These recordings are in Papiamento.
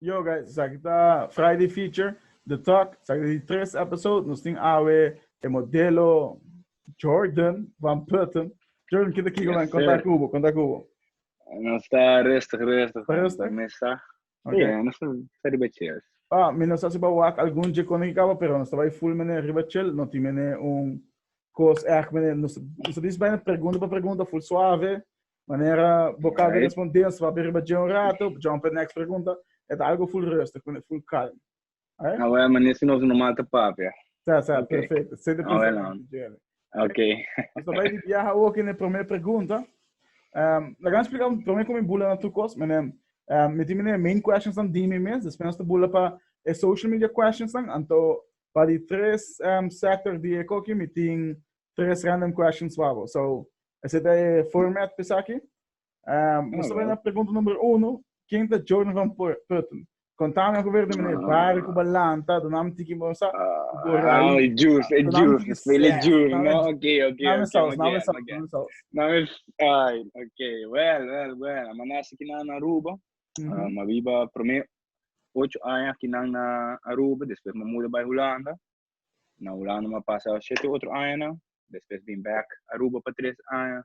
Yo guys, esaki ta Friday feature, The Talk, esaki di tres episode, nos tin awe e modelo Jordan van Putten. Jordan, kita kiko man, konta kubo, konta kubo. Nos ta rustig, rustig. Ta rustig? Mesa. Okay. Yeah, nos ta riba chairs. Ah, mi nos asi ba wak algun je kono kikaba, pero nos ta bai full mene riba chill, no tin mene un kos ek mene, nos, nos ta dis bijna pregunta pa pregunta, full suave, Manera bo kan okay. responde en swap riba dje un rato, jump en next pregunta, e ta algo full rustig, kune full calm. Oké? Okay? Awel, meneer si nos normaal te papia. Sa, sa, okay. perfecto. Sin de pensamiento, Jerry. Ok. Hasta bij die viaja ook in de primer pregunta. Um, la gaan explicar um primer como bula na tu cos, meneer. Um, met die main questions dan die me mes, después de bula pa e social media questions dan, anto pa die tres um, sector die koki, met die tres random questions pa bo. So, ese ta e format pesaki. Um, Nos ta na pregunta numero uno. Ken ta Jordan van Putten? Contame algo verde, meneer. Ah. Waar ik balanta, de naam tiki mosa. Ah, e juice, e juice. Spelen e juice, no? Oké, oké. Naam is saus, naam is saus, naam is saus. Naam is, ai, oké. Wel, wel, wel. Maar naast ik na Aruba, mm -hmm. uh, maar wie ba primeer ocho años que na Aruba, después me mudé bij Holanda. Na Hulanda mi a pasa shete otro añanan, despues bin bèk Aruba pa tres aña,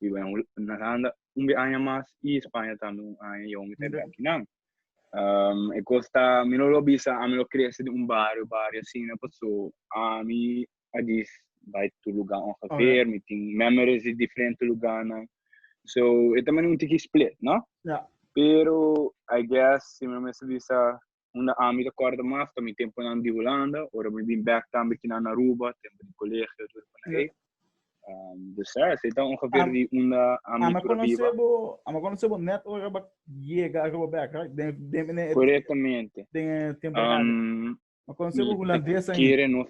biba na Hulanda un be aña mas i Spaña tambe un aña i awor mi ta e bèk kinan. E kos ta, mi no lo bisa, ami lo krese den un bario, bario asina, paso ami a dis bai tur lugá ongeveer, mi tin memories di diferente lugánan, so e ta manera un tiki split, no? Pero I guess si mi no mester bisa Unda ami ta kòrda mas ta mi tempunan di Hulanda, ora mi bin bèk tambe kinan na Aruba, tempu di kolegio tur por ahí. Dus ja, esei ta ongeveer di unda ami tur a biba. Ama konosé bo nèt ora bo yega Aruba bèk, right? Den, den mene e. Korektamente. Den e temporada. Ama konosé bo hulandes ainda. Kere nos.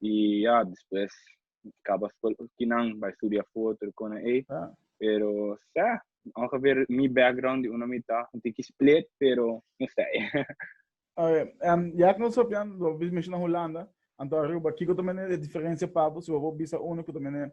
y ya despues caba school oki nan bay studia for tur cona ey pero sa ongeveer mi background di una mita un tiki split pero no sai. Oke en ya cu nos hopian lo bo bisa menciona Hulanda anto Aruba kico ta mene e diferencia pa bo si bo wou bisa uno cu ta mene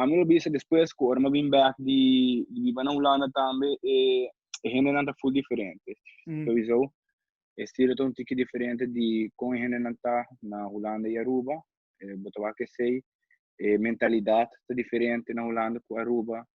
ami lo bisa despues ku ora mi a bin bèk di biba na Hulanda tambe e hendenan ta full diferente. Lo bisa bo? E estilo ta un tiki diferente di kon e hendenan ta na Hulanda i Aruba. Bo ta wak esei, e mentalidat ta diferente na Hulanda ku Aruba.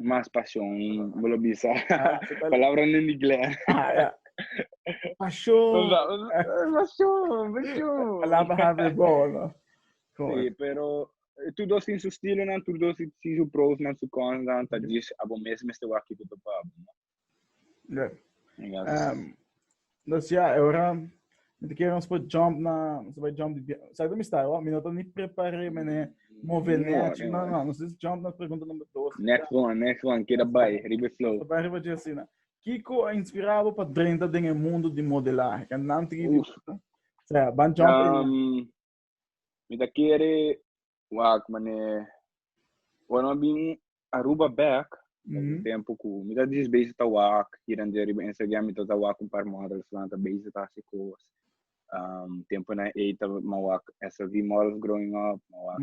Mas pasion, bo lo bisa. Palabra nen di glè. Pasion. Pasion, pasion. Palabra happy bon, no? Si, pero tur dos tin su stilonan, tur dos tin su prosnan, su consnan, ta djis abo mes mester wak kiko ta pa abo, no? Good. Um, dus ja, e ora mi te kere ons por jump na, ons por jump di, sa mi sta, wa, mi no ta ni prepare, mi ne move ne, no, no, nos is jump na pregunta number 2. Next one, next one, kira bai, ribe flow. Sa bai ribe Jessina. Kiko a inspirado pa drenta den e mundo di modelaje? Kan nan tiki di, sa, ban jump. Um, Mi ta kere wak man'e ora mi a bin Aruba bek, na un tempu ku mi ta dies bezig ta wak hira en dia riba Instagram mi tabata wak un par models nan ta bezig ta hasi kos. Tempunan ei ta mi a wak SLV models growing up, mi a wak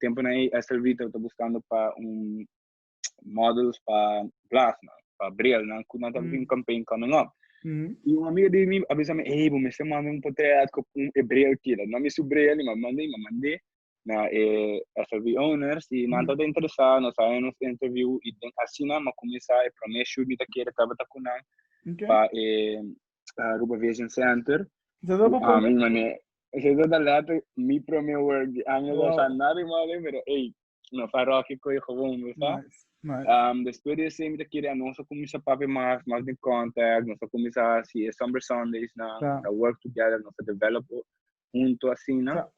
temponan ei Esther Vito ta buskando pa un models pa glasnan, pa brilnan ku nan ta hasi un campaign coming up. I un amiga di mi a bisa mi, ey, bo mester manda un potret ku un e bril keda. No mi su bril ni, ma mand'e, ma mand'e na e Esther V owners i nan tabata interesá, nos a haña nos interview i den asina mi a kuminsá e promé shoot mi ta kere tabata ku nan pa e Aruba Vision Center ku ami i mane. Esesa ta letter mi prome work di año wow. sa nari male pero ey no fa rocky koy gewoon we sa. Nice. Nice. Um, después de ese, me quería no so comienza papi más, más de contact, no so comienza si es Summer Sundays, na, yeah. no work together, no so develop junto así, na. Yeah.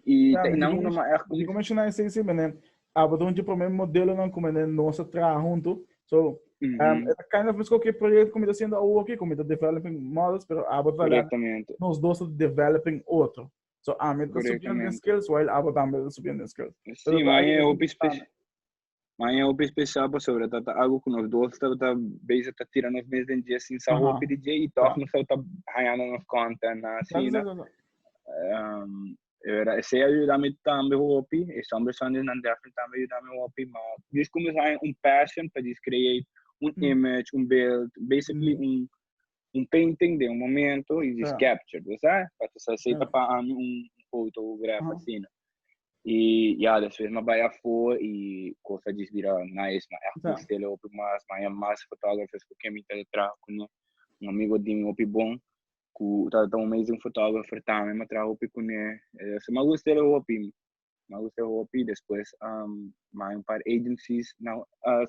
Y yeah, te inang uno más. Como mencioné, sí, sí, mene, a pasobra un dje prome modelonan ku mende nos a traha huntu. So, um, e ta kind of miskon ke proyekto ku mi ta siendo awor ki, ku mi ta developing models, pero abo ta Correctamente. nos dos ta developing otro. So, a mi ta subiendo den Correctamente. skills, while abo tambe ta subiendo den skills. Pero Sí, ta mas algo e ku hopi mi espe- tana. mas e hopi especial pasobra ta ta algo ku nos dos tabata basic ta tira nos mes den dje sin sa Aha. hopi di dje i tòg Sa. nos tabata hañando nos kònta na Sa, sa, asina. sa, sa. Um, E wera, esei a yuda mi tambe hopi, e Summer Sundays nan definitely tambe a yuda mi hopi, ma djis kuminsá haña un passion pa djis create un image, un beeld, basically un painting den un momento y djis capture, bo sa, pa ta sa esei ta pa ami un fotograf asina. Y ya, despues mi a bai afó y cos a djis bira nice, mi a echt trist'é hopi mas, mi a haña mas fotógrafes cu kemi ta traha cu nan, un amigo di mi hopi bon. ku ta ta un amazing photographer tambe m'a traha hopi kuné so m'a gust'é hopi m'a gust'é hopi despues m'a hay un par agencies na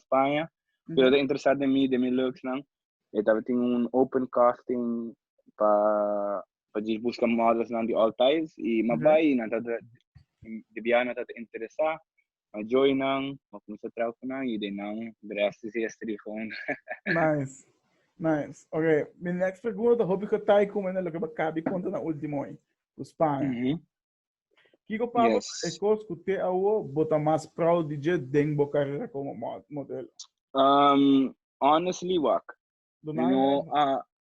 Spaña ku tabata interesá den mi den mi looksnan e tabatin un open casting pa pa djis buska modelsnan di all types i m'a bai i nan tabata di biaha nan tabata interesá a joy nan, a cuminsa traha cu nan y den nan dreste si es trigon. Nice. Nice. Ok, mi next pregunta ta hopi cotai cu mende loke bo a caba di conta na ultimo hoy, cu Spanje. Mm -hmm. Kico pasa yes. cu e cos cu te awo bo ta mas proud di dje den bo carera como modelo? Um, honestly, wak. No, uh,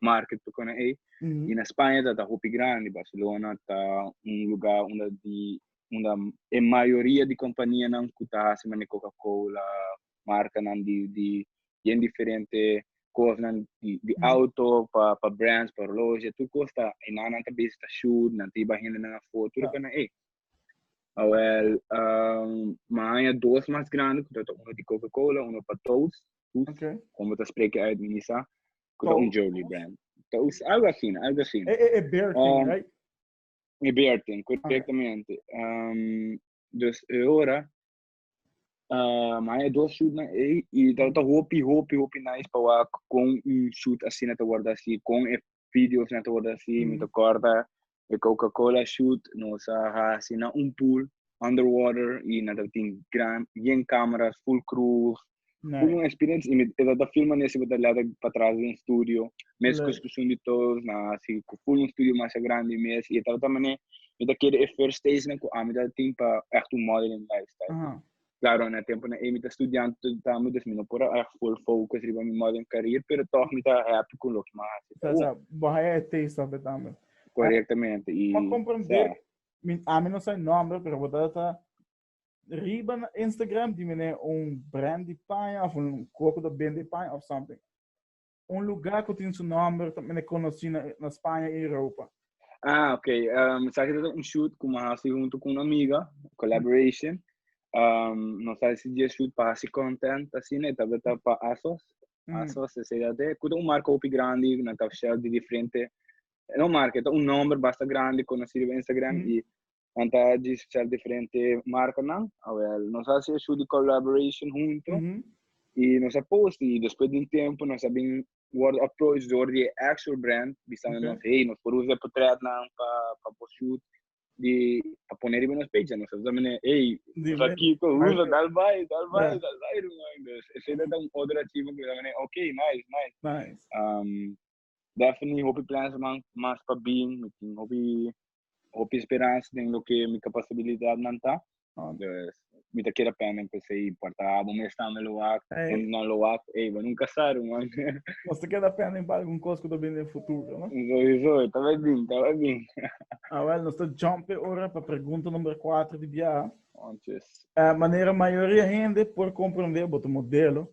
market pa kona ei y na Spaña ta ta hopi grandi Barcelona ta un luga unda di unda e mayoria di companianan cu ta haci manera coca cola marcanan di di bien diferente cosnan di di auto pa pa brands pa horloge tur cos ta enan nan ta bezi ta shoot nan ta ey bay hendenan afo tur e kona ei awel mi haya dos mas grandi cu ta ta uno di coca cola uno pa toast toast como ta spreke uit mi mi sa Cu ta un Jolie brand. Ta us, algo así, algo así. E, e, e beer thing, um, right? E beer thing, correctamente. Okay. Um, dus e ora, uh, maar e dos shoot na e, y ta, ta hopi, hopi, hopi nice pa wa con un shoot así na ta worden así, con e videos na ta worden así, mm. mi ta corda, E Coca Cola shoot nos a haci na un pool under water y nan ta tin gran bien cameras full crew full un experience y mi ta ta filma nes y mi ta leta patras den studio mes cos cu Sundy Toes nan a haci cu full un studio masha grandi mes y e tabata mane mi ta kere e first stage nan cu ami ta tin pa echt un modeling lifestyle. Claro, na e tempunan ey mi ta studiante todita amo, dus mi no por a haja full focus riba mi modern career, pero tog mi ta happy cu loke mi a haci. Sa, sa, bo haya e taste of it tambe. Correctamente, y Bo comprende, sa. mi, ami no sa e nomber, pero bo ta data riba na Instagram di mi ne un brand di paña of un cu cu ta bende paña of something. Un lugá ku tin su nòmber ta mester konosí na Spaña i Europa. Ah, ok. Um, sa kita un shoot ku ma hasi huntu ku un amiga, collaboration. Um, nos a hasi dia shoot pa hasi content, asina, e tabata pa ASOS. Mm. ASOS, SEAT, kuta un marka hopi grandi, na tap shell di diferente. No marka, ta un nomber basta grandi, konosido pa Instagram, mm. i nan ta di sel diferente marcanan awel nos a haci e shoe di collaboration hunto mm -hmm. y nos a post y despues di un tiempo nos a bin word approach door di actual brand bisando okay. nos hey nos por usa portret nan pa pa por shoot di pa poner riba nos page nos a mene hey nos a kiko usa dal bay dal bay yeah. dal bay rumai dus ese da un otro archivo que mene okay nice nice nice um, Definitely hopi plans man mas pa bin, mi tin hopi hopi speransa den loke mi kapasabilidatnan ta. Dus mi ta keda pende ku esei puerta abru mes stando lo wak, temp nan lo wak, ey bo nunka sa ru man. Nos ta keda pende pa algun kos ku ta bin den futuro, no? Sowieso, ta bai bin, ta bai bin. Awel, nos ta jump e ora pa pregunta number kuater di biaha. Manera mayoria hende por komprondé, bo ta modelo,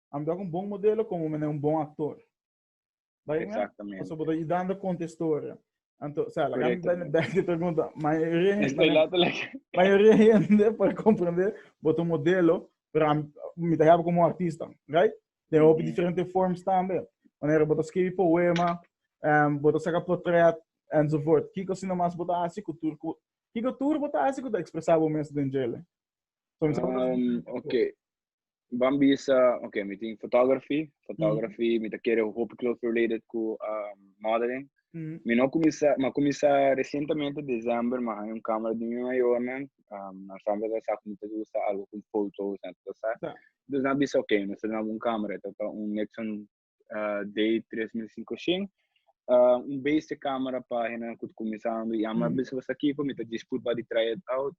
Ame ta cu un bon modelo como mi un bon actor. Bai Exactamente. Paso bodo idando conta historia. Anto, o sea, la gran ben ben que pregunta, mayoría mayoría gente para comprender boto modelo, pero mi te help como artista, right? De hoop mm -hmm. diferente forms también. Wanneer boto escribe poema, um, boto saca portret, enzovoort. Kiko sino mas boto hace cultuur, kiko tour boto hace cultuur expresabo mes den jele. So, um, okay. Van bisa, ok, mi tin photography, photography, mm. mi ta kere hopi close related ku um, modeling. Mm. Mi no kumisa, ma kumisa recientemente december, ma hay un camera di mi mayor nan, um, na samba ta sa kumita usa algo kun fotos, na ta sa. Dus na bisa, ok, mi sa na un camera, ta ta un Nixon dei tres mil sinku shin un bes e kamera pa hendenan ku ta kuminsando i ama bisa basta kiko mi ta disput pa di try it out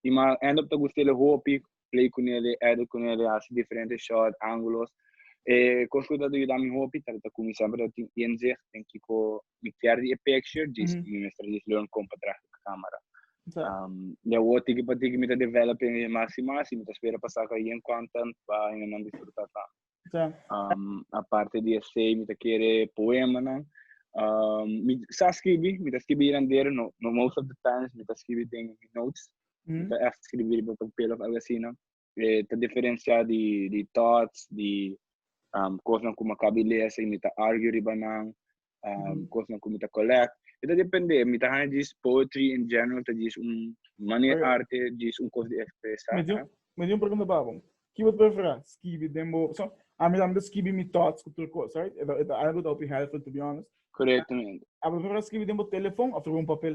i ma end up ta gust'e hopi play ku neli edit ku neli hasi diferente shot angulos e kos ku ta yuda mi hopi ta kuminsando tin inzicht den kiko mi perde e picture djis mi mester djis learn con pa traha cu camera um, y awor tiki pa tiki mi ta develop e mas y mas y mi ta spera pa saca bien content pa en nan disfruta tambe Ja. um, aparte di esey mi ta kere poema nan um, mi sa scribi mi ta scribi hier en der no, no most of the times mi ta scribi den mi notes mi ta echt scribi riba papel of algo así nan e ta diferensiá di di thoughts di um kosnan ku mi a kabi lesa i mi ta argue riba nan um kosnan ku mi ta collect e ta depende mi ta haña djis poetry in general ta djis un manera Oké. arte djis un kos di ekspresá Mi tin un, mi tin un pregunta pa bo. Ki bo ta preferá skibi den bo so ami tambe ta skibi mi thoughts ku tur kos right e ta e ta algu ta hopi helpful to be honest. korektamente A bo ta preferá skibi den bo telefon òf riba un papel?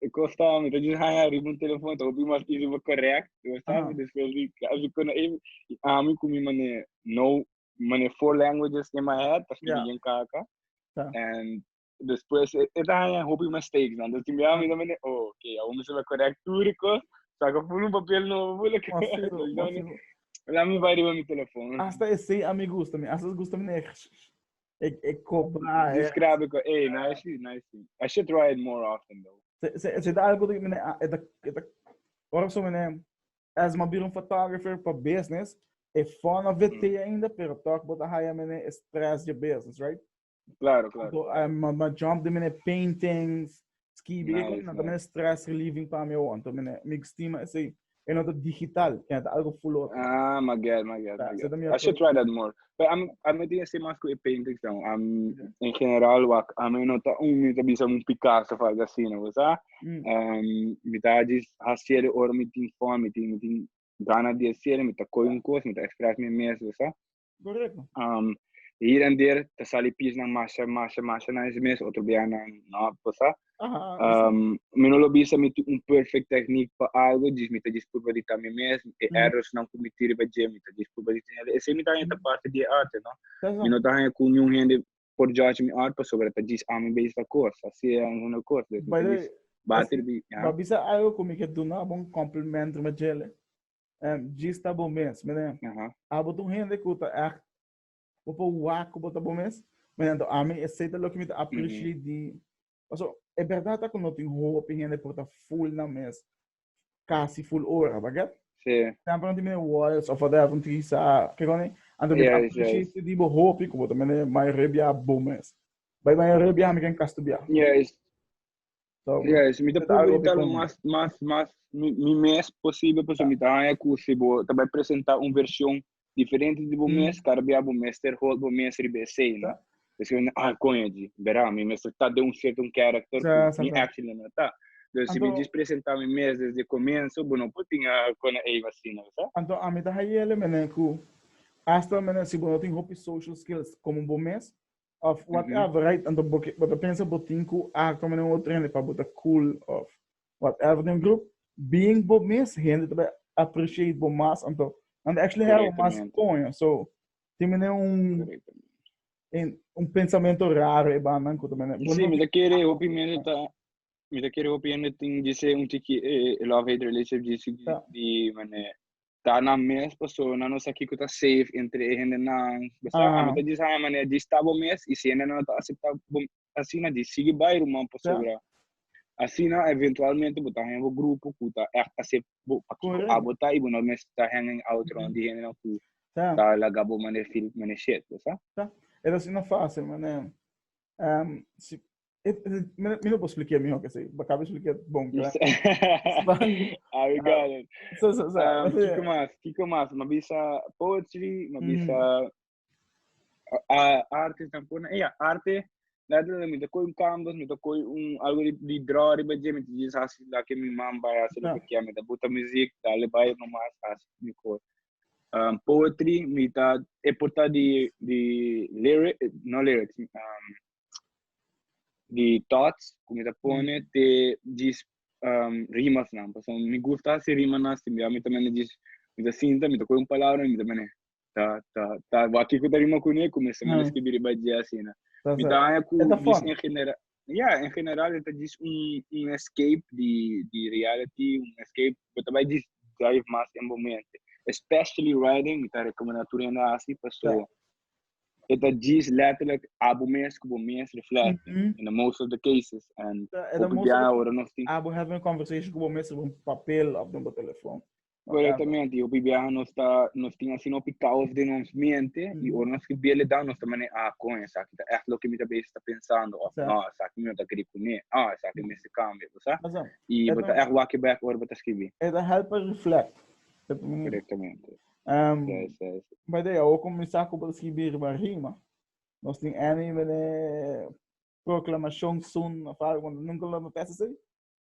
E cos ta, mi ta just hanga arriba un telefon, ta hopi mas easy pa correct, you understand? Aha. Despues di, casi cu no able, y ami cu mi mane, no, mane four languages in my head, ta sciri Ja. bien kaka, Ja. and despues e, e ta hanga hopi mistakes nan, dus tin bia mi ta mane, oh, ok, awor mi sabia correct tur e cos, saca full un papel nobo, full e cos, Masivo, dus mi ta mane, masivo. lami bai riba mi telefon. Hasta esey a mi gusta, mi hasta gusta mi neer. E, e copa. Eh. Describe it. Hey, nice, nice. I should try it more often though. Se se se da algo de mine eta eta ora so mine as ma bir un photographer for business e fun of it mm. ainda pero toch bota haya mine e stress de business, right? Claro, claro. So, um, ma, ma jump de mine paintings, Skibi nice, e con nice. stress relieving pa mi on to mine mi estima ese e nota digital que nota algo full otro. Ah, my god, my god, my god. I should try that more. But I'm I'm meeting ese mas ku e paintings dan. I'm yeah. in general wak I'm nota un mi bisa un Picasso of algo así, no sa. Mm. Um, mi ta jis hasiere or mi tin fon, mi tin mi tin gana di hasiere, mi ta koi un kos, mi ta express mi mes, no sa. Correcto. Um, hier en der te sali piesnan masha, masha, masha na ese mes, otro bia na no posa. Um, mi no lo bisa mi tu un perfect technique pa algo, dis mi te disculpa di también mes, e errors nan cometir pa je, mi te disculpa di también. Ese mi ta hanya parte di arte, no? Mi no ta hanya ku nyun hende por judge mi art, paso ta dis ami base ta kos, así es una kos. By the way, bater bi. Ba bisa algo ku mi ke duna bon compliment ma jele. en djis ta bo mes mene abo ta un hende ku ta echt bo por wak ku bo ta bo mes mene enton ami esei ta loke mi ta aprishiei di paso e bèrdat ta ku no tin hopi hende por ta ful nan mes kasi ful ora ta gèt tempo nan tin mene wòyels òf ader ta utilisa ke kòne anto mi ta aprishiei si di bo hopi ku bo ta mene mayorei bia bo mes bai mayorei bia mi ken kas tu bia. So, yes, mi ta pregunta lo mas, mas, mas, mi, mi mes posible, pues mi ta haya cu si bo ta bai presenta un version diferente di bo mes, cara bia bo mester hold bo mes riba esei, no? Pues mi, ah, coño, di, bera, mi mester ta de un cierto un character cu mi actually no ta. Dus si mi jis presenta mi mes desde comenzo, bo no por tin a cona ei así, no sa? Anto ami ta hayele, menen, cu hasta, menen, si bo no tin hopi social skills como bo mes, Of whatever, right? Anto bo, bo ta pensa bo tin ku akto mane un otro hende pa bo ta cool of whatever den grup. Being bo mes, hende ta bai appreciate bo mas. Anto, nan ta actually hera bo mas Correctamente. koño. So, tin mane un, Correctamente. en, un pensamento raro e bandan ku ta mane. bo Sí, no mi ta kere hopi hende ta mi ta kere hopi hende tin dise un tiki eh, love hate relationship disi di, Ya. di mane ta na mes persona no sa kico ta safe entre e hendenan besa ami ta djis haya manera djis ta bo mes y si hendenan no ta acepta bo asina djis sigui bay ruman pasobra asina eventualmente bo ta haya bo grupo cu ta echt acep bo pa kico abo ta y bo no mes ta hang in out rond di hendenan cu ta laga bo manera feel manera shet besa. Esa si no facil manera. Um, si, eh, eh, mi, mi no puedo explicar mejor que sí. Acabo de explicar bon, claro. ah, we got it. So, so, so. Um, Kiko mas, Kiko mas. Ma bisa poetry, ma bisa mm. uh, arte tampona. Eh, yeah, arte. Laat me met de kooi canvas, met de kooi un algo die, die draw riba je met die sasi la ke mi man bij als ik ja met de buta muziek, daar le bij normaal sasi mi kooi. Um, poetry, mi ta e porta di, di lyric, no lyrics, um, di thoughts, ku mi ta pone mm. te jis um, rimas nan. Paso mi gusta si rima nan, si mi ta mene jis, mi ta sinta, mi ta koe un palabra, mi ta mene, ta, ta, ta, waki ku ta rima ku ne, ku mi se mene mm. skribi riba jia asina. Mi ta anja ku, jis en general, ya en general e ta djis un un escape di di reality un escape bo ta bai djis drive mas en bo mente especially riding mi ta recomenda tur hende a haci paso e ta djis letterlijk abo mes cu bo mes reflecting Mhm. in the most of the cases and E ta hopi most of biaha the ora nos tin Abo having a conversation cu bo mes riba un papel of den bo telefoon. Correctamente, hopi biaha nos ta, nos tin asina hopi caos den ons mente, mm. y ora nos que biele da, nos ta mane, ah, con esa, que ta echt lo que mi ta bezig ta pensando, of, no, esa que mi ta kri kune, ah, esa que mi se cambia, o sea, y bota echt waki back ora bota escribi. Eta help a reflect. Correctamente. Um, yes, yes. But they, o começar com escribir uma rima, nós tem N, proclamação, sun, of algo, nunca lo me peça assim.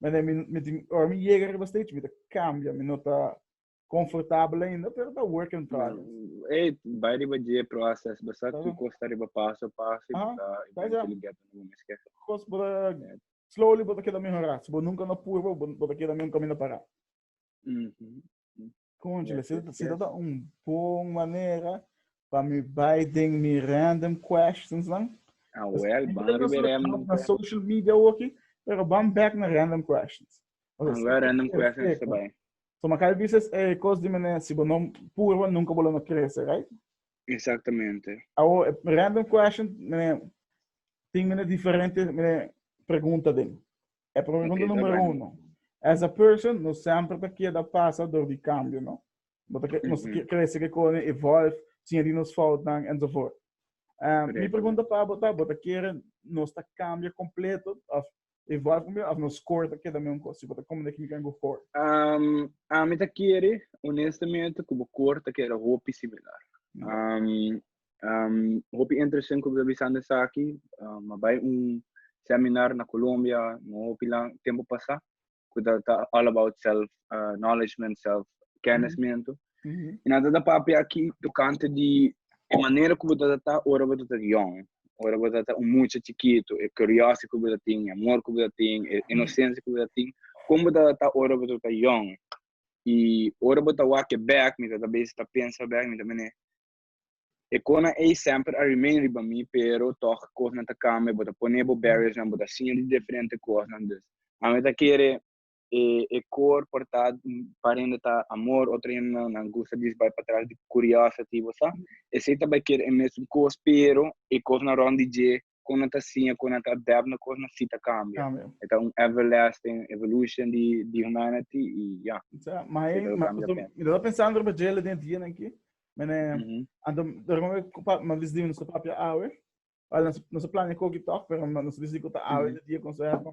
Mane, mi, mi, mi, ora mi llega arriba stage, mi te cambia, mi no ta confortabel ainda, pero ta work in progress. Hey, vai riba je process, basta Tá tu bom. costa riba paso a paso e Aham, bota tá eventually get on un esquer. Cos bota, Yeah. slowly bota queda mejorá. Se bo nunca no purba, bo- bota queda men un caminda pará. Mhm. Conchale, yes, yes, si dat yes. un bon manera pa mi bai den mi random questions dan. Ah, well, ban ribe random na social media oki, pero ban back na random questions. Okay, ah, well, random questions te bai. So, makal bises e eh, cos di mene, si bono purba, nunca bola no crece, right? Exactamente. Awo, eh, random question, mene, ting mene diferente, mene, pregunta den. E pregunta numero uno. Esa person no sempre ta keda pasa door di cambio, no? No ta no ta crece ke kone evolve, siña di nos foutnan enzovoort. Um, mi pregunta pa bo ta, bo ta kere nos ta cambia completo of evolve completo of nos core ta keda meun cos? Si bo ta come deki mi kan go core. Um, ami ta kere honestamente ku bo core ta keda hopi similar. Um, Um, hopi interesan ku ta bisan esaki, um, ma bai un seminar na Colombia, no hopi la tempo pasa, ku ta, ta all about self uh, knowledge, self kennismento. Mm -hmm. En dat ta papi aki tocante di e manera ku ta ta ora bo ta young, ora bo ta un mucha chiquito, e curiosity ku ta tin, e amor ku ta tin, e inocencia ku ta tin, como ta ta ora bo ta young. I ora bo ta wake back, mi ta ta bes ta pensa back, mi ta mene E konan ey semper a remain riba mi pero tog kosnan ta cambia bo ta pone bo barriers nan bo ta siña di deferente kosnan dus ami ta kere e kor por ta par hende ta amor otro hende nan gusta dis bay patras di curiosity bo sa esey ta bay kere e mesun kos pero e kosnan rond di dje kon nan ta siña, kon nan ta adapt na kos, nan sí ta kambia. E ta un everlasting evolution di di humanity i ya. Sa, ma e, ma, so, mi ta pensando riba djele den dianan ki, mene, anto, dor mi ma vis di nos papia awe, Well, nos plania koki tòg, pero nos vis di ku ta awe di dia konseho.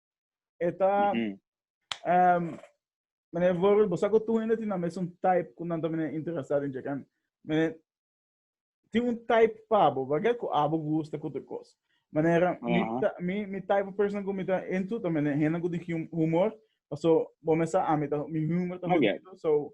E ta... Mm -hmm. um, meneer Vorel, bosa ko tu hende tin mes un type ku nan también interesado in chekan. Meneer, tin un type pabo, bagay ko abo gusta ko te kos. Meneer, uh -huh. mi, ta, mi, mi type of person ku mi ta into, también hende ku di humor, so, bo me sa, ami ta, mi humor ta okay. so,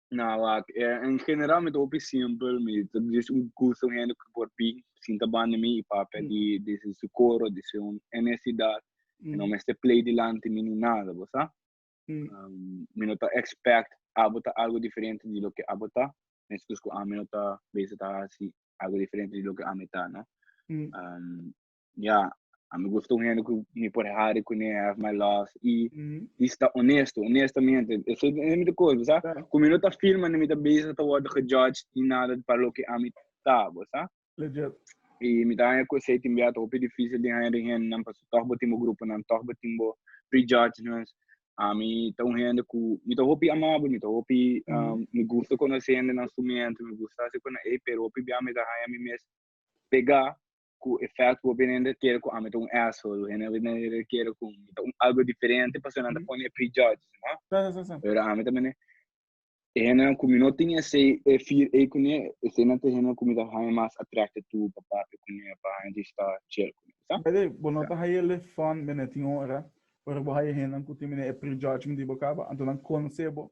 Na wak, eh, en general mi ta hopi simpel, mi ta dis un gusto un hende por bin sinta banda mi i papia mm. di, di si su coro, di si un necesidad, mm. no mester play dilanti mi ni nada, bo sa? Mm. Um, mi no ta expect abo ta algo diferente di lo que abo ta, meskos ku ami no ta bezig ta hasi algo diferente di lo que ami ta, no? Mm. Um, Ya, a mi gusta un hende ku mi por hari kuné, I have my love, i i sta onesto, onestamente. Esei ta un kos, bo sa, ku mi no ta feel manda mi ta beza ta wòrdu gejudge ni nada pa loke ami ta, bo sa. I mi ta haña ku esei tin bia ta hopi difísil di haña den hendenan pasobra tòg bo tin bo gruponan, tòg bo tin bo prejudgments. Ami ta un hende ku mi ta hopi amabel, mi ta hopi mi gusta konosé hendenan su miéntu, mi gusta hasi kos na ei, pero hopi bia mi ta haña mi mes pegá Ku efèkto bo bini hende kere ku ami ta un asshole? Bo hende bini kere ku mi ta un algu diferente pasobra nan ta pone e prejudges no? Pero ami ta bini e hendenan ku mi no tin esei e fir ei kuné, eseinan ta e hendenan ku mi ta haña mas attracted tur pa papia kuné, pa haña distá, chill kuné. Bo sa? Bai, bo no ta haña e lift fund bini tin ora, ora bo haña e hendenan ku tin bini e prejudgment di bo kaba, anto nan konse bo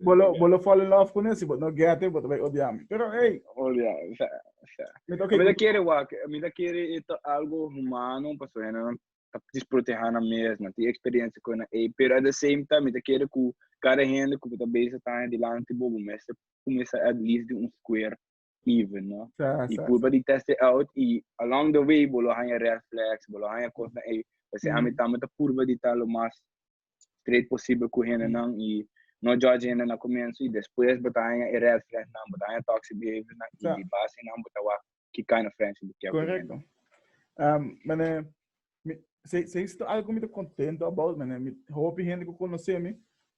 Bo lo, bo lo fall in love cu nessie, but no get it, bo ta bay odia mi. Pero ey! Odia, sa, sa. Mi ta oké. Mi ta kere wak, mi ta kere e ta algo humano, pasobra hendenan ta disproteha nan mes, nan tin experiencia cu hendenan ey. Pero at the same time mi ta kere cu cada hende cu bo ta bezig taña dilanti bo, bo mester cuminsa at least di un square. even no y purba di test it out y along the way bo lo haña red flags bo lo haña cosnan ey ta ser ami tambe ta purba di ta lo mas straight posible cu hendenan y no judge hende na comienzo y despues bo ta haña e red flags nan bo ta haña toxic behaviors nan y di base nan bo ta wak ki kind of friendship bo kier cu hende. Mane si si esto algo mi ta contento about mane mi hopi hende cu conoce mi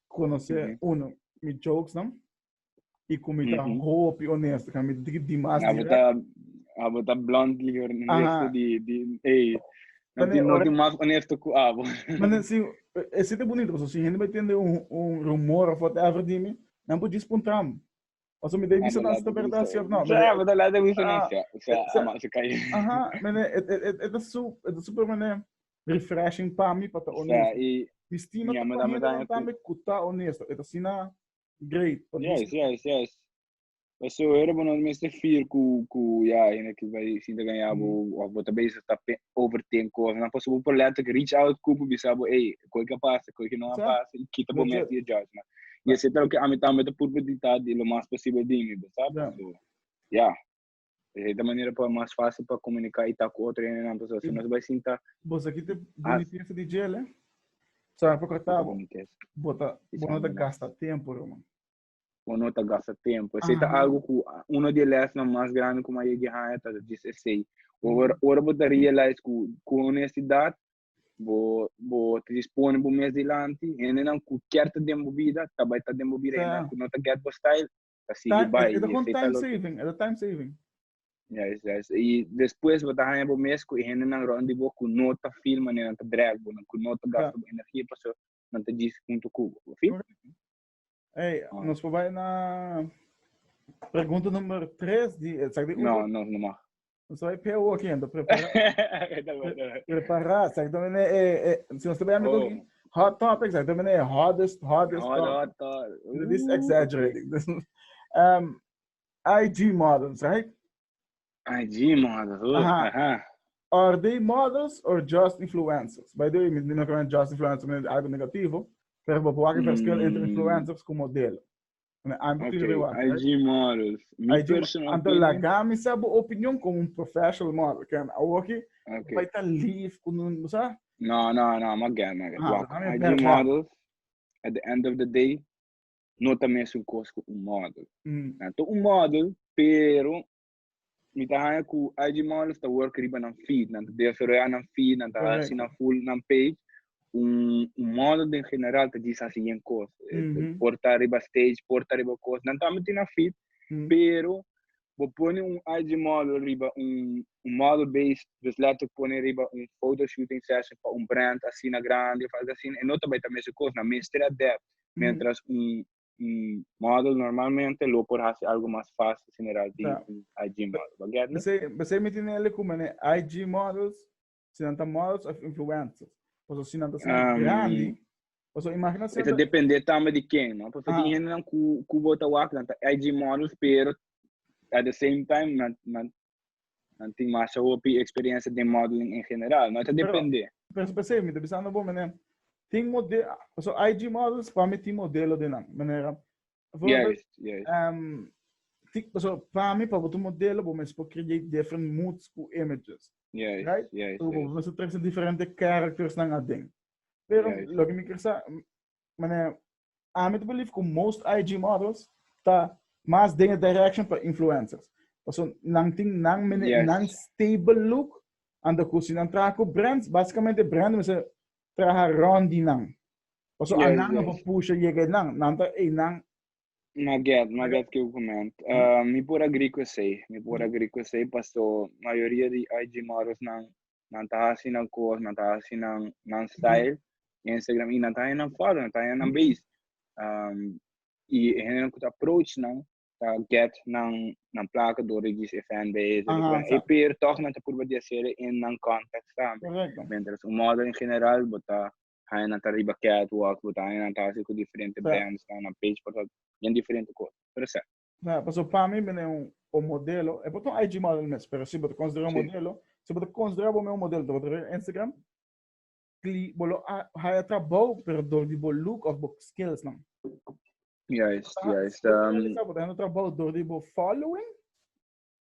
conoce uno mi jokes nan y cu mi ta hopi honesto, ca mi ta tiki dimas direct. Abo ta bluntly honesto di, di, ey, no tin, no tin mas honesto cu abo. Manan, si, e si ta bonito, paso si hende bai tende un, un rumor of whatever di mi, nan por djis puntam. Paso mi ta bisa nan si ta berdad si of no. Sa, abo ta laat e wisa nan sa, sa, ama si kai. Aha, mene, e, e, e, e ta su, e ta super mene refreshing pa mi pa ta honesto. Sa, y, Mi stima ta pa hende nan tambe cu ta honesto, e ta sina. Great. Yes, yes, yes. Paso era bo no mester fear ku ku ya hende ki bai sinta kan ya bo mm. of bo ta bezig ta pe overthink cosas. Na paso bo por let ik reach out ku bo bisa bo hey, koi ka pasa, koi ki no a pasa, i kita bo mes di judgment. Y ese tal ke ami tambe ta purba di ta di lo mas posible di mi, bo sa? Paso, ya. Di cierta manera pa mas fácil pa comunica y ta cu otro hende nan pasobra si nos bai sinta. Boso kit e bonitesa di djel, eh? Sabe por kata bo? Bo ta, bo no ta gasta tempo, bro, man. Bo no ta gasta tempo. Esey ta algo cu uno di e lesnan mas grandi cu mi a yegi haña ta djis esey. Ora, ora bo ta realize cu, cu honestidad bo, bo ta djis pone bo mes dilanti, hendenan cu kier ta den bo bida, ta bai ta den bo bida, hendenan cu no ta get bo style, ta sigui bai. E ta con time saving, e ta time saving. Yes, yes. Y despues bo ta haya bo mes cu e hende nan rond di bo cu no ta feel mane nan ta drag bo, cu no ta gasta bo energia pasobra nan ta djis hunto cu bo. Bo feel? Ey, oh. nos por bai na pregunta number tres di, exactly. No, no, no mag. Nos vai pia hoki ento prepara. prepara, exactamente. Eh, eh, si nos também amigo oh. hot topics, exactamente. Eh, hottest, hottest hot, topic. Hot, hot. This uh. exaggerating. This, um, IG models, right? IG models. Oh, uh-huh. Uh-huh. Are they models or just influencers? By the way, mi no creo just influencers, algo negativo. Pero vou pôr aqui mm. entre influencers com modelo. Okay, IG models. Mi IG, personal anto opinion. Laga mi sa bo opinion como un professional model. Ken, awoki, okay. pa tan lief con un, sa? No, no, no, magan, magan. Ah, Wak, no, IG no, models, at the end of the day, no ta mes un cos con un model. Mm. Anto un model, pero Mi ta haña ku IG Models ta work riba nan feed, nan ta desaroyá nan feed, nan ta hasi nan full nan page. Un un model den general ta djis hasi yen kos, por ta riba stage, por ta riba kos, nan tambe tin nan feed, pero bo pone un IG model riba un un model base, dus lèt tok pone riba un foto shooting session pa un brand asina grandi òf algu asina, e no ta bai ta meskos, nan mester a dèpt, mentras un. model normalmente lo por hasi algo mas fácil si mirar di un IG model. Bo get mi? Besey mi tene el como ne IG models, si nan ta models of influencers. Paso si nan ta asina um, grandi, paso imagina si. Eta depende tambe di ken, no? Paso ah. tin hende nan ku ku bo ta wak, nan ta IG models, pero at the same time nan nan nan tin masha hopi experiencia den modeling en general. No ta depende. Pero p'esei mi ta bisando bo manera tin mode, paso IG models pa mi tin modelo den nan manera. Yes, yes. Um, tik paso pa mi pa bo ta modelo bo mes por create different moods ku images. Yes, right? Yes, so bo yes. mes ta trese diferente characters nan aden. Pero Yes. lo ke mi ker sa, Mane, ami ta believe ku most IG models ta mas den e direction pa influencers. Paso nan tin nan mene yes. nan stable look and ku si nan traha ku brands, basikamente brand mese traha rond di nan. Paso yes, anan yes. no pusha yega nan, nan ta ei nan Ma get, ma get que eu comento. Uh, me por agree com sei, me por agree com sei, passou maioria de IG models não nan ta hasi nan cos, nan ta hasi nan nan style in Instagram y nan ta haña nan foto, nan ta haña nan base. Um, y e hende cu ta approach nan ta get nan nan placa door de gis e fanbase, de Aha, e per toch nan ta purba di hacer in nan context tambe. Correcto. Mientras un model in general bo ta haña nan ta riba catwalk, bo ta haña nan ta hasi cu diferente brands, nan page por ta bien diferente cos. Pero sa. Nah, paso pa mi mine un un modelo, e por ta un IG model mes, pero si bo ta considera un modelo, si bo ta considera bo mi un modelo, ta bo ta rega Instagram, cli, bo lo a haya trabou pero dor di bo look of bo skills nan. Juist, juist. Si bo ta realiza bo ta hendo trabou dor di bo following,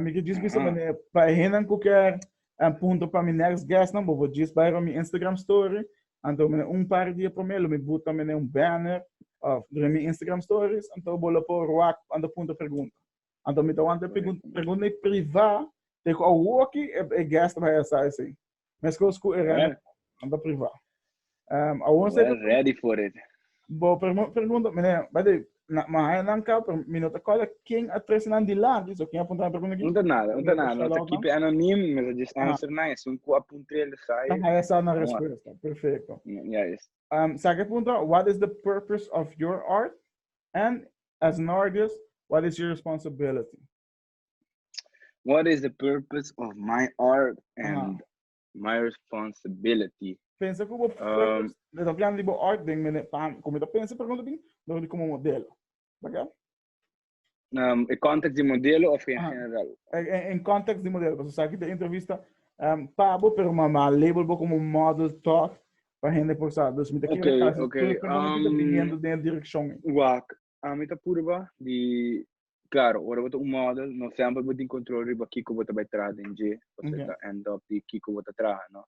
Mi ta djis bisa manera pa e hennan cu kier puntra pa mi next guestnan, bo por djis bai pa mi Instagram story. Anto manera un par di dia prome lo mi buta manera un banner of riba mi Instagram stories. Anto bo lo por wak anto puntra pregunta. Anto mi ta wanta pregunta pregunta priva te cu awoki e guestnan bai a sa asey. Mescos cu e rende anda priva. Um, a ons well, ready for it. Bo primo pergunta, meneer, bij de mahaya nan ka, pero mi no te kola ken a tres nan dilante, so ken apunta na pergunta ki? Unta nada, unta nada, no te kipe anonim, me sa just answer na, es un ku apunta el sai. Mahaya sa na respuesta, perfecto. Ja is. Um, sa ke punta, what is the purpose of your art? And as an artist, what is your responsibility? What is the purpose of my art and my responsibility? Pensa ku bo purpose, le ta plan di bo art den mene pan, komo ta pensa pregunta bin, don di komo modelo. Baka? Um, e context di modelo of in general? En context di modelo, paso sa ki ta entrevista um, pa bo, pero mama label bo komo model toch, pa hende por sa. Dus mi ta kere kasi tur pregunta ki ta biniendo den direkshon. Wak, Ami ta purba di, Claro, ora bo ta un model, no semper bo tin control riba kico bo ta bay traha den dje, ose Yeah. ta end up di kico bo ta traha, no?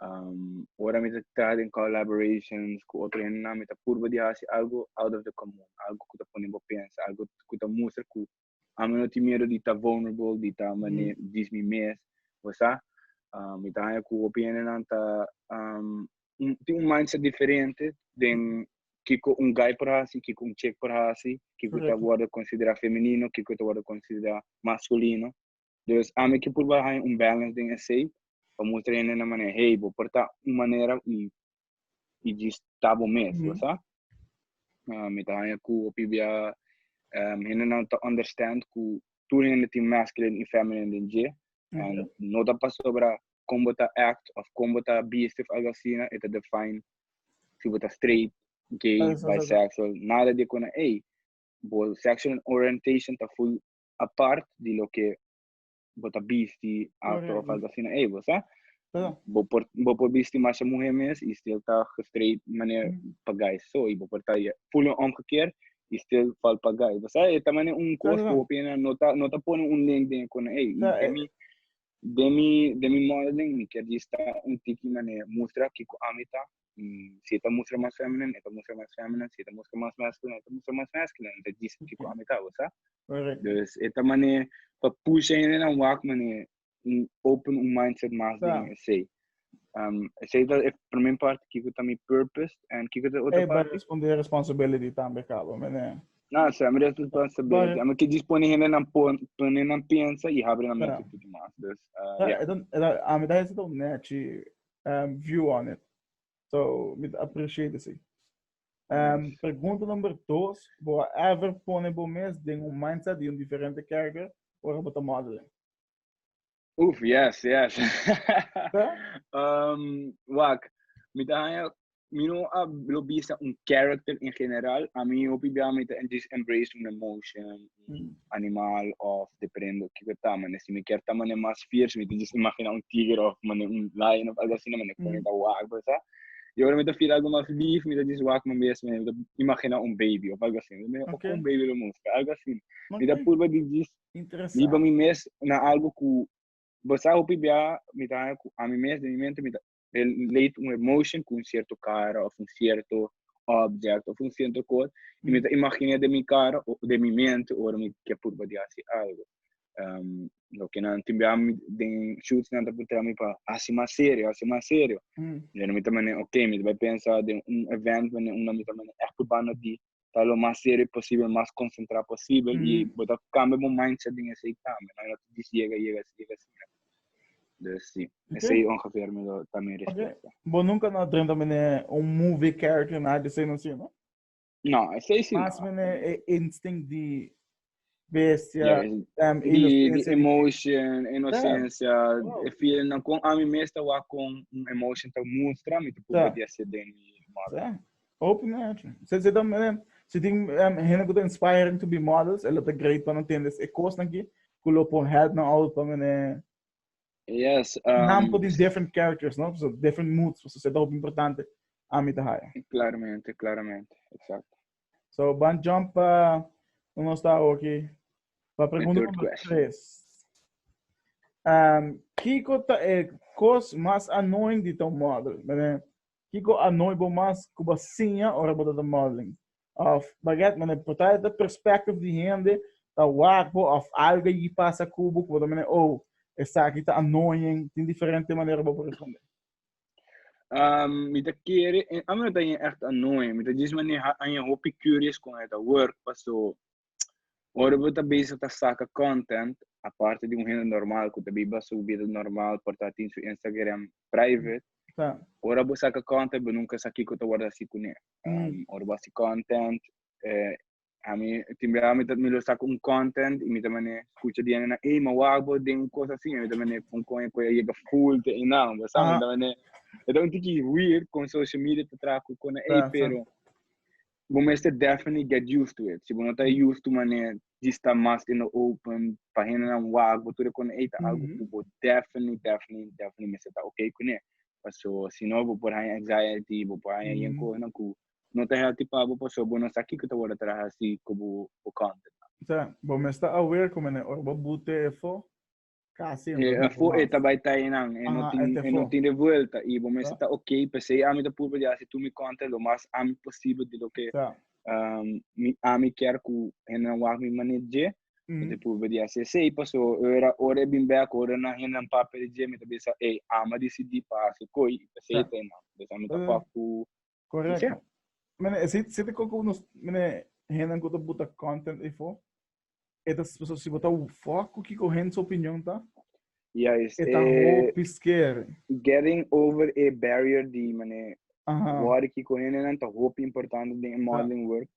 Um, ora mi ta traha den collaborations cu otro hendenan, mi ta purba di haci algo out of the common, algo cu ta pone bo pensa, algo cu ta mustra cu Ami no tin miedu di ta vulnerable, di ta mane dis mi mes, bo sa. Um, mi ta haña cu hopi hendenan ta, um, un, tin un mindset diferente den kiko un guy por haci, kiko un chick por haci, kiko ta Correcto. wordo considera femenino, kiko ta wordo considera masculino. Dus ami ke purba haña un balance den esei pa mustra hende nan manera hey bo por ta un manera y y djis ta bo mes bo sa. Mi ta haña cu hopi bia hende nan ta understand cu tur hende tin masculine y feminine den dje and no ta pasobra con bo ta act of con bo ta bisti of algo asina e ta define si bo ta straight, gay, bisexual nada di econa ey bo sexual orientation ta full apart di loke bo ta bisti afro of algo asina ey bo sa bo por bo por bisti masha muhe mes y still ta gestreit manera pa guy so y bo por ta full en omgekeerd y still fal pa guy bo sa e ta manera un cos cu hopi hende no ta no ta pone un link den con ey y den mi den mi den mi modeling mi kier dista un tiki manera mustra kico ami ta y si e ta mustra mas feminine e ta mustra mas feminine si e ta mustra mas masculine e ta mustra mas masculine ta djis ki cu ami ta bo sa dus e ta mane pa pusha hende nan wak mane open un mindset mas den esey um esey ta e primer parti kico ta mi purpose and kico ta e otro parti e responde e responsibility tambe cabo mene na esey mi responsibility ami ke djis pone hende nan pone nan pensa y habri nan mente tudu mas dus ya ami ta hesita un nechi um view on it. So mi ta appreciate si. Um, pregunta number dos, bo ever pone bo mes den un mindset di un diferente character ora bo ta modeling? Uf, yes, yes. um, wak, mi ta haya Mi no a lo bisa un character en general, a mi hopi bia mi ta just embrace un emotion, un animal of depende kiko ta, mane si mi kier ta mane mas fierce mi ta just imagina un tiger of mane un lion of algo asina mane como mi ta wak por sa, y ora mi ta feel algo mas lief mi ta just wak mi mes mane mi ta imagina un baby of algo asina mi ta mira oke un baby lo muska algo asina mi ta purba di just biba mi interesante. mes na algo ku por sa hopi bia mi ta haña ku ami mes den mi mente mi ta relate un emotion cu un cierto cara of un cierto object of un cierto cos y mi ta imagina den mi cara o den mi mente ora mi kier purba di haci algo. Um, loke nan tin bia mi den shoots nan ta puntra mi pa haci mas serio, haci mas serio. Mm. Yo mi ta mane, ok, mi ta bai pensa den un event mane un mi ta mane echt purba na di ta lo mas serio posibel, mas konsentrá posibel i bo ta kambia bo mindset den esei tambe, no ta disi yega, yega asi, yega asi. Dus si, esei ongeveer mi lo ta mi respuesta. Bo nunka no a drenta mene un movie character, nada di esei no si, no? No, esei si no. Mas mene e instinct di bestia, yes. um, inocencia. emotion, inocencia, yeah. wow. e feeling na con ami mes ta wa con un emotion ta mustra, mi te pupa yeah. di ase den mi model. Yeah. Open action. Se se tam, eh, se ting um, hene ku inspiring to be models, elo ta great pa no tendes e kos na ki, ku lo pon help na out pa mene Yes. Um, Naam voor die different characters, no? So different moods, so se ta hoop importante. Amita haya. Claramente, claramente. Exacto. So ban jump pa no nos ta oki. Pa pregunta number tres. Um, Kiko ta e cos mas annoying di ton model? Mene, Kiko annoy bo mas kuba sinya ora bo ta modeling? Of, baget, mene, porta ta perspective di hende ta wak bo of algo yi pasa kubo kubo ta mene, oh, esaki ta annoying, tin diferente manera bo por responde. Um, mi ta kere, en ami no ta yen echt annoy, mi ta jis mane ha yen hopi curious kon eta work, paso ora bo ta bezig ta saca content, aparte di un hende normal ku ta biba su vida normal, por ta tin su Instagram private, Sa. ora bo saca content, bo nunca sa kiko ta wordo hasi kune. Um, ora bo hasi content, eh, Ami, tin bia mi, mi lo saca un content y mi ta mane escucha di na, hey, ma wak bo den un cosa así, mi ta mane pon con e coya llega full te einan, bo sabe, ta mane, e ta un tiki weird con social media te traha cu cona, hey, pero, bo mester definitely get used to it, si bo no ta used to mane di sta mas in the open, pa hendenan wak bo tur e cona, hey, ta algo cu bo definitely, definitely, definitely mester ta ok cune, paso, si no bo por haña anxiety, bo por haña yen cosanan cu. No ta healthy pa bo paso bo no sa kiko ta wordo tra hasi cu bo content. Sea, bo mes ta aware cu mene ora bo bute e fo, casi e no ta bute mas. E ta bai ta eynan, e no tin, e no tin revuelta y bo mester ta ok. Pesey ami ta purba di hasi tur mi content lo mas ami posibel di loke mi, ami kier cu hendenan wak mi manera dje, mi ta purba di hasi esey. Paso ora, ora e bin bek, ora nan hendenan papia di dje, mi ta bisa, ey, ama dicidi pa hasi coy y pesey ta eynan. Pues ami ta fuck cu Correct. Yeah. Mene, si, si te coco unos, mene, henden kuta buta content e fo. Eta so si bota fuck ku kiko hen su opinion ta. Ja, is Eta ho eh, pisker. getting over a barrier di mane Aha. word kiko hen nan ta hopi importante den e modeling work.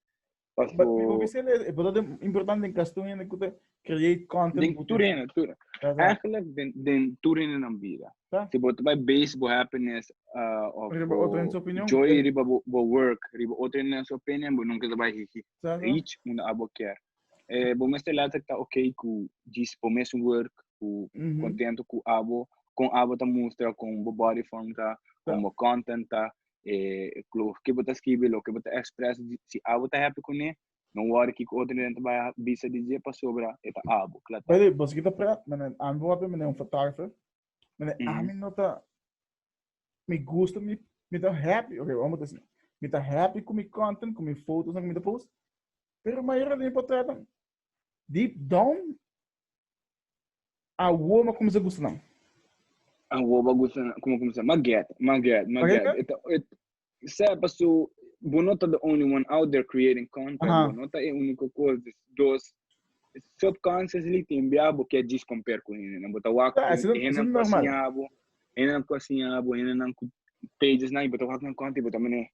But Paso, mi hopi sele, e por dat importante den kas tur hende ku ta create content. den butu. tur hende, tur. Ta sa. Eigenlijk den, den tur hende nan bida. Ta. Si bo ta bai base bo happiness ah, of Riba bo otro hende su opinion. joy Te. riba bo, bo work, riba otro hende nan su opinion, bo nunca ta bai hi- hi- Sa, sa. reach unda abo kier. Eh, bo mester later ta ok ku djis bo mes work, ku Mhm. contento ku abo, kon abo ta mustra, kon bo body form ta, kon Ta. bo content ta, e klur ke bo ta skibi loke bo ta expresa di si abo ta happy kuné no wòri kiko otro hende ta bai bisa di dje pasobra e ta abo kla ta. Baby boso kita prat manera ami bo papia manera un fotografe manera ami no ta mi gusta mi mi ta happy oke amo ta si mi ta happy ku mi content ku mi fotonan ku mi ta post pero mayoria di mi portretnan deep down Awo m'a cuminsa gusta nan. Awo m'a gusta nan. Como cuminsa? M'a get, m'a get, m'a get. E ta, e, sep, paso bo no ta the only one out there creating content. Aha. Bo no ta e unico cos. Des, dos, subconsciously tin bia bo kier djis compare cu hendenan. Bo ta wak Ta, cu eso, eso hendenan cu a normal. siña bo, hendenan cu a siña bo, hendenan cu pages nan y bo ta wak nan content y bo ta mene,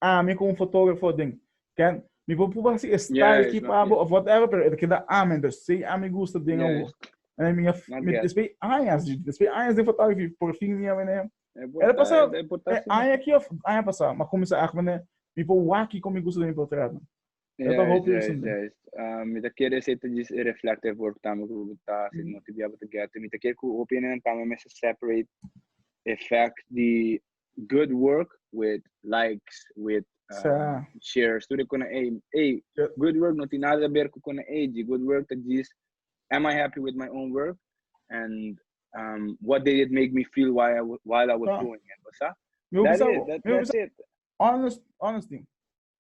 ami ku un fotografo den ken mi por pruba hasi e style ki pa bo of whatever pero e ta keda ami entonces si ami gusta den awo en mi despues añas dje despues añas den fotografi por fin mi a wene el pasa e aña aki of aña pasa mi a cuminsa aki wene mi por wak kon mi gusta den mi portretnan el ta hopi esun den mi ta kere esei ta dje e reflect e work tambe ku bo ta hasi no te bia bo ta gete mi ta kere ku hopi ene tambe mester separate e fact di good work with likes with um, shares tudo com ei ei good work não tem nada a ver com ei de good work tá diz am I happy with my own work and um, what did it make me feel while I, while I was ah. doing it tá meu that is that, that's it honest honest thing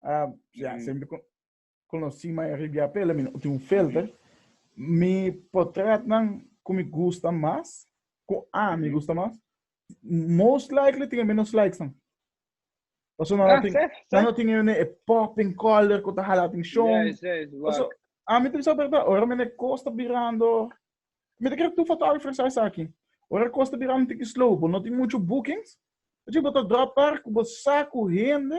uh, yeah, mm. sempre Conoci Maya Ribiar p'e la mi no tin un filter. Mi portretnan cu mi gusta mas, cu ami gusta mas, most likely tin e menos likesnan. Paso nan a tin, ah, sí, sí. tin e, e popping color cu ta hala atención. Yes, yes, Paso, ami te bisa verdad, ora mi ne costa birando, mi te kere tu fotógrafo sa esaki. Ora costa birando tiki slow, bo no tin mucho bookings, Oye, bo ta drop par cu bo saku hende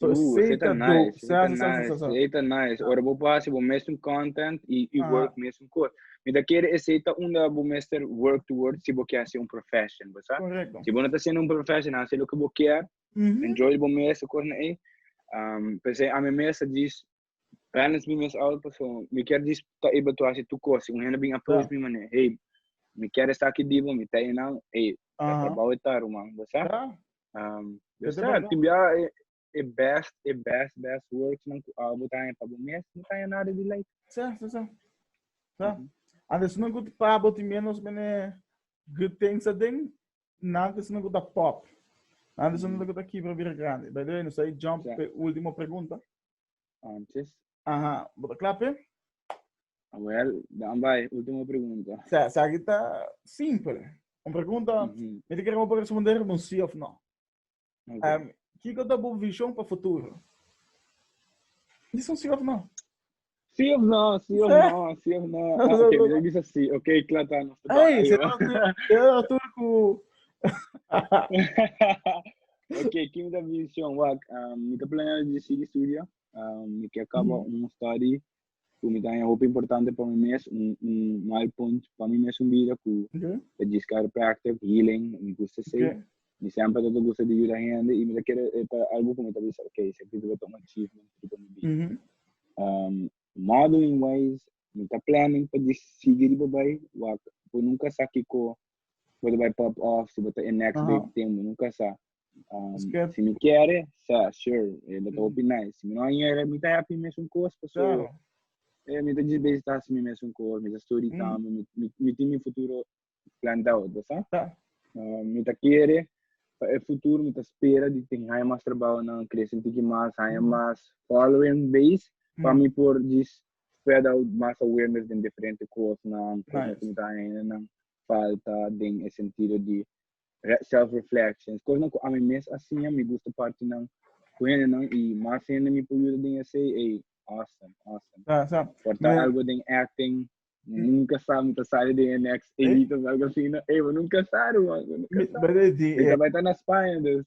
So uh, esey ta dope. Nice, sa, sa, sa, nice, sa, sa. Esey ta nice. Ora bo pa bo mesum content y, y ah. work mesum cos. Mi ta kere esey ta unda bo mester work towards si bo kier hacer un profession, bo sa? Correcto. Si bo no ta haciendo un profession, hace lo que bo kier. Mm -hmm. Enjoy bo mes, cos na ei. Um, pensei, a mi mes a dis, Ganas mi mes oud paso mi kier di ta able to haci tur cos. Si un hende bin approach mi mane, hey, mi kier esta aki di bo, mi ta enau, hey, ta trabao e ta ruman, bo sa? Um, bo sa, tin bia e best, e best, best worksnan cu oud bo ta haña pa bo mes, no ta haña nada di like. Sa, sa, sa. Sa. And there's no good pa bo tin bia nos mene good things aden, nan there's no good a pop. Nan there's no good a kibra bira grande. By the way, nos ta jump pe ultimo pregunta. Antes. Aha, bo ta kla p'e? Well, dan bai, ultimo pregunta. Sa, sa ki ta simpel. Un pregunta, Mhm. mi ta kere bo por responder con un sí of no. Ok. Em, kiko ta bo vision pa futuro? Dis un sí of no. Sí of no, sí of Sí. no, sí of no. Ah, ok, mi debe bisa sí. Ok, kla ta, nos ta Ei, bala, se yo. ta tur, se ta tur ku... Ok, kimi ta vision wak? Um, mi ta planeando di sigui studio. Um, mi ke acaba mm. un study ku mi ta hopi importante pa mi mes, un, un milepoint pa mi mes un vida ku okay. ta gis chiropractic, healing, mi gusta sei. Okay. Mi sempre ta gusta di ayuda hende y mi ta kere eh, ta algo ku mi ta bisa, okay, se kita ta un achievement pa mi vida. Mm -hmm. Um, modeling wise, mi ta planning pa di sigui riba bay, wak, po nunca saki ko Bo ta bai pop off, si bo ta e next day di tempu, nunka sa. Si mi kere, sa, sure, e lo ta hopi nice. Si mi no hera, mi ta happy mesun kos, pasobra mi ta djis bezi ta hasi mi mesun kos, mi ta studi tambe, mi tin mi futuro planned out, bo sa. Mi ta kere pa e futuro mi ta spera di tin haña mas trabounan, crece un tiki mas, haña mas following base pa mi por djis spread out mas awareness den diferente kosnan ku nos komunitat hendenan falta den e sentido di self reflections, kosnan ku ami mes a siña mi gusta partinan ku hendenan i mas hende mi por yuda den esei ey awesome awesome por ta algo den acting nunca sa mi ta sali den e next elite of algo asina ey bo nunca sa ruman bo nunca sa mi ta bai ta na Spaña dus.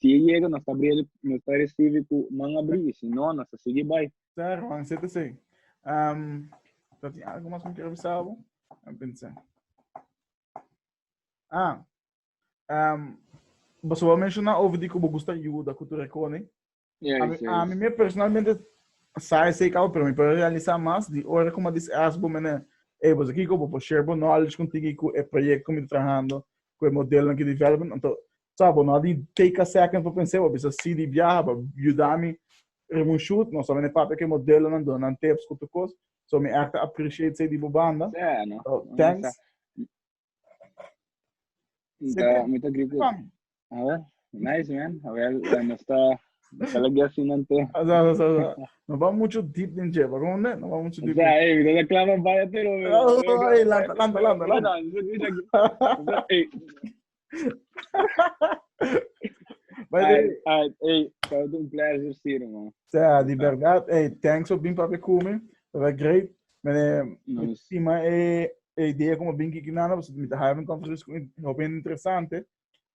Si e yega, nos ta abri el, nos ta risibi ku man abri, i si no, nos ta sigui bai. Sara, Juan sete a seis. Am, ta tin algu mas ku mi kier bisa bo? A pensa. Ah, am, boso a menshona over di ku bo gusta yuda ku tur e kone. Ya, Ami, ya, ami ya. me personalmente sa esei kaba, pero mi por a realisá mas di ora ku mi a dis'e aks bo mene, Ey, boso kiko? Bo por share bo knowledge kontigu ku e proyekto ku mi ta trahando, ku e modelonan ku development? Anto, Sa, bo no a di take a second pa pens'é, bo a bisa sí di biaha, bo a yuda mi riba un shoot, no solamente papia ku e modelonan duna nan tips ku tur kos, so mi èk ta appreciate esei di bo banda, so thanks. Mi ta agree ku Awor, nice man, awor nos ta sala guest sin nan te. Sa, sa, sa, sa. No bam muchu deep den dje, pa konde? No bam muchu deep. Sa, ey, mi ta sa klama baya te, no. Ey, lanta, lanta, lanta, lanta. Ey, Mas ai, eh, ai, ei, todo un pleasure sir, man. Ja, di verdad, ei, thanks op bin papi kumi. Papa great. Mene, mi sima e, e idea como bin kiki nana, pues mi te haya un conversation con e hopi interesante.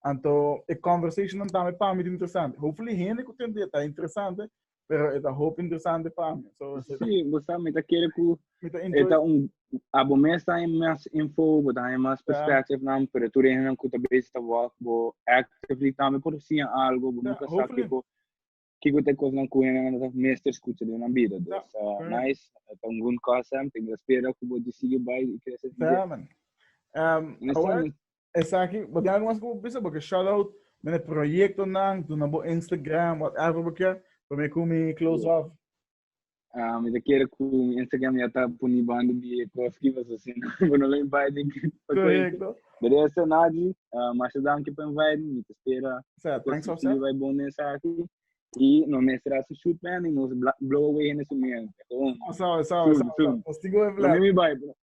Anto, e conversation dan tame pa mi interesante. Hopefully, hende ku tende ta interesante, Pero e ta hopi interesante pa mi. So, sí, vos sabe, mi ta quiere cu... Mi ta interesante. Eta un... Abo mes ta en más info, bo ta en más perspective, yeah. pero tu rehen cu ta bezig ta walk, bo actively tambe por si algo, bo yeah, nunca sabe kiko, kiko te cosnan cu hen ta mester escucha de una vida. Yeah. Dus, uh, yeah. nice, eta un good concept, en espera cu bo decide bij y crece. Yeah, man. Um, I want... Esaki bo tin algu mas ku bo bisa bo ke shout out mende proyektonan duna bo Instagram whatever bo kier pa mi ku mi close off. Ah, mi ta kere ku mi Instagram ya ta puni banda di e kos ki paso si no bo no lo invite den ki pa kwenti. Correcto. De resto nadi, ah, masha danki pa invite mi, mi ta spera Sa, thanks kosa José. positiva i bon den esaki. I no mester hasi shoot pa hende, nos bla- blow away hende su mieu. Eto un. Osa, osa, Soon, osa, osa. soon. Postigo e Lo mi flat. mi bai, bro.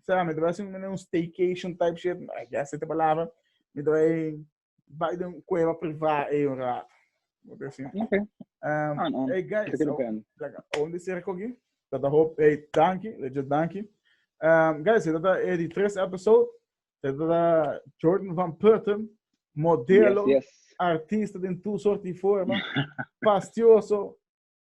Será mi debe sin un staycation type shit? I guess esta palabra. Mi debe bij de un cueva privada e un rato. Moet ik zien. Oké. Um, Aan, aan. hey guys, Zeker oh, ben. lekker. Oh, dit is er ook hier. Dat de hoop, hey, dankie, legit dankie. Um, guys, dit is eh, die tres episode. Dit is eh, Jordan van Putten, modelo, Yes, yes. artista den tu soort die vormen, pastioso,